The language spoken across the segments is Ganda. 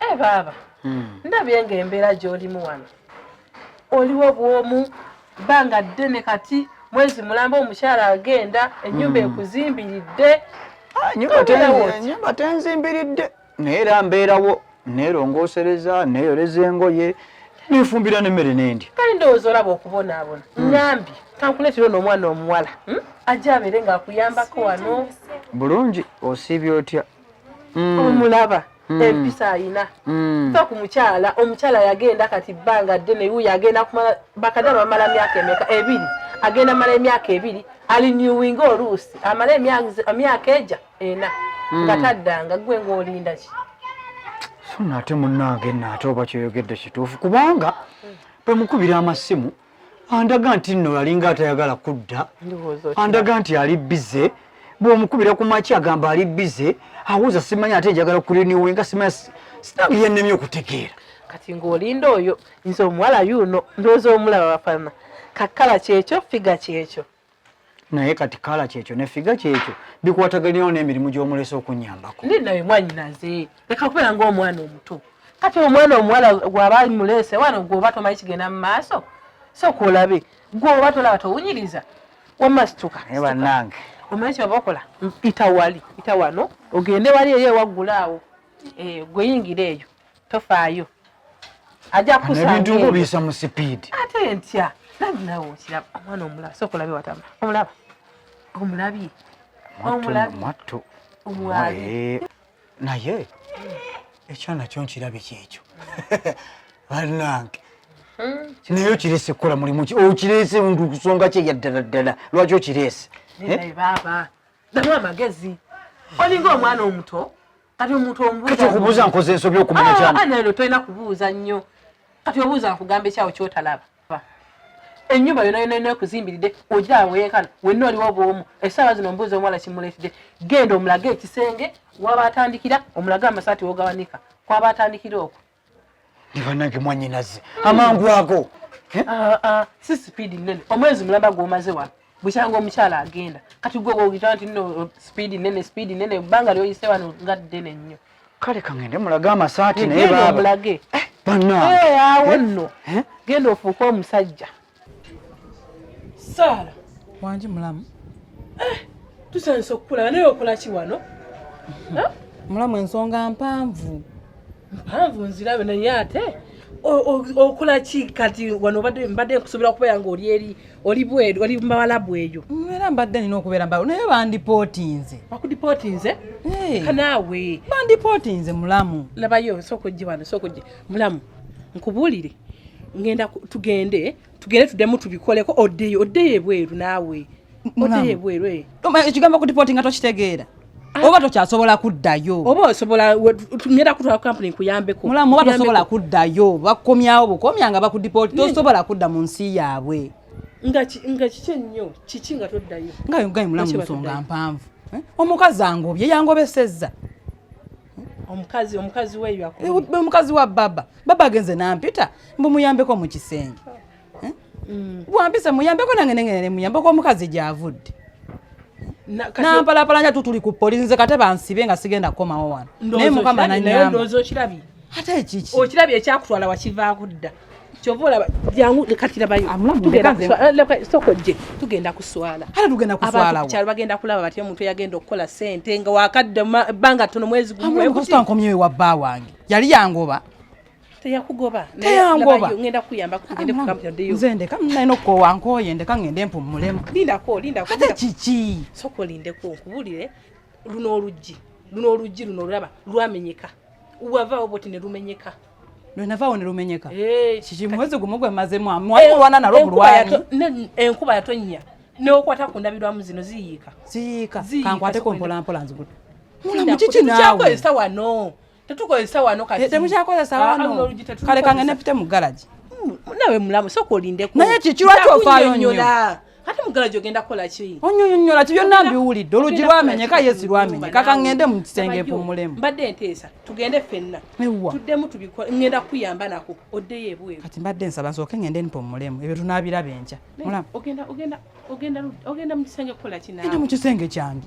e eh, baaba hmm. ndabye nga embeera gy'olimu wano oliwo bwomu bbanga ddene kati mwezi mulamba omukyala agenda ennyumba hmm. ekuzimbiridde ah, nyumba tenzimbiridde naye era mbeerawo neerongoosereza neeyoleza engoye nefumbira nemmere nendi kale ndowooza olaba okubonaabona hmm. nyambi kankuleetera ono omwana omuwala ajja abeere ng'akuyambako wano bulungi osiibya otya omulaba mm. empisa alina mm. fa ku mukyala omukyala yagenda kati bbanga ddene yu yagenda kumala bakadala bamala myaka emeka ebiri agenda mala emyaka ebiri ali newinga oluusi amala emyaka eja ena mm. nga taddanga gwe ngaolinda ki so naate munange naate oba kyoyogedde kituufu kubanga mm. bwemukubira amasimu andaga nti nno alinga atayagala kudda andaga nti ali bize bwomukubira ku maki agamba ali bize awuza simanyi ate njagala kuliniwe nga simanyi sitange yennemye okutegeera kati ng'olinda oyo nze omuwala yuuno ndowooza omulaba bafana kakala kyekyo figa kyekyo naye kati kala kyekyo ne figa kyekyo bikwataganirawo n'emirimu gy'omulesa okunyambako ndi naye mwanyinaze leka kubeera ng'omwana omuto kati omwana omuwala gwaba muleese wano gwoba tomanyi kigenda mu maaso sooka olabe gwoba tolaba towunyiriza wamma situka naye bannange omanyi kyebaba okola ita wali ita wano ogende wali eyo ewaggula awo eh, gweyingira eyo tofaayo ajja kusaebintu nga obiyisa mu sipiidi ate ntya nabi nawe okiraba omwana omulaba sooka olabe watama omulaba omulabye omulabye omwali eh, naye ekyana kyo nkirabye kyekyo banange hmm, naye okirese kukola mulimu ki okirese oh, ndu kusonga kye yaddala ddala lwaki okirese eh? baaba damu amagezi olinga omwana omuto kati omuntu omubuuza okubuuza nkoze ensobi okumanya ah, kyana ah, nalero tolina kubuuza nnyo kati obuuza nkugamba ekyawo kyotalaba enyumba yona yona yona kuzimbilide oja awenkana wenna oliwo bwomu esaawa zino mbuuza omuwala kimuletide genda omulage ekisenge waba atandikira omulage amasaati wogawanika kwaba atandikira okwo ne banange mwanyinaze amangu ago eh? ah, ah, si sipiidi nnene omwezi mulamba gwomaze wa bukyanga omukyala agenda kati gwe ogita nti no sipiidi nnene sipiidi nnene ebbanga lyoyise wano nga ddene nnyo kale kangende mulage amasaati naye baaba mulage eh, banange awo nno genda ofuuke omusajja Saala wangi mulamu eh, tusanyusa okukulaba naye okola ki wano eh? mulamu ensonga mpanvu mpanvu nzirabe naye ate okola ki kati wano obadde mbadde nkusuubira okubeera nga oli eri oli bweru oli mumawalabu eyo era mbadde nina okubeera mbawo naye bandipootinze bakudipootinze eh. kanaawe bandipootinze mulamu labayo sooka ojje wano sooka ojje mulamu nkubuulire ngenda tugende tugende tudemu tubikoleko oddeyo oddeyo ebweru naawe oddeyo ebweru eh. ekigambo kutipoti nga tokitegeera ah. oba tokyasobola kuddayo oba osobola ngenda kutwala kampuni nkuyambeko mulamu oba tosobola kuddayo bakukomyawo bukomya nga bakudipoti tosobola kudda mu nsi yaabwe nga kiki ennyo kiki nga toddayo nga yogayi mulamu nsonga mpanvu eh? omukazi angobye yangobesezza omukazi omukazi weyo akubye omukazi wa baba baba agenze nampita mbu muyambeko mu kisenge eh? mm. wampisa muyambeko nange nengene muyambeko omukazi gyavudde nampalapalanya tu tuli ku polisi nze kate bansibe nga sigenda kukomawo wano naye mukama nanyamba ate ekiki okirabye ekyakutwala wakivaako dda kyova olaba jangu kati labayo eh, sokojje tugenda kuswala abakyalo bagenda kulaba batya omuntu eyagenda okukola sente nga wakadde banga tono mwezi gumwetankomyewe wa bba wange yali yangoba teyakugoba ngenda kuyamba nze ndeka nalina okukowa nkoye ndeka ngende mpummulemu lindako lindako ate kiki soka olindeko nkubulire luno oluggi luno oluggi luno olulaba lwamenyeka wavaawo boti ne lumenyeka lwenavaawo ne lumenyeka eh, kiki mwezi gumu gwe mazemu amwalwana eh, nalwo bulwani enkuba yatonnya neokwata ku ndabirwamu zino ziyiika ziyiika kankwateko mpolampola nzigula mulamu kiki naawe wano tetukozesa wano kati eh, temukyakozesa ah, wano kale kangene pite mu garage hmm, nawe mulamu soka olindeko naye kiki lwaki ofaayo nnyo Kati mugala jogenda kola ki? Onyonyonyola ki byonna mbiwulidde olugi lwamenyeka yesi lwamenyeka ka ngende mu kisenge mpumulemu. Mbadde nteesa tugende ffenna. Tuddemu tubikole ngenda kuyamba nako oddeyo ebweru. Kati mbadde nsaba nsooke ngende mpumulemu ebyo tunaabiraba enkya. Ogenda ogenda ogenda ogenda mu kisenge kukola ki naawe? Ndi mu kisenge kyange.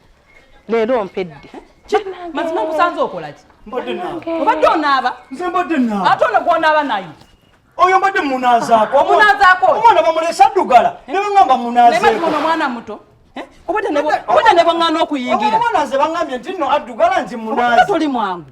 leero mpedde mazima nkusanze okolaki obadde onaaba ate ono gwonaaba naye oyo mbadde munazaako omunazaako omwana bamulesa addugala ne bagamba munazeeko omwana muto eh? obadde ne bwaŋŋana okuyingira omwana ze bagambye nti no addugala nti munaze toli mwangu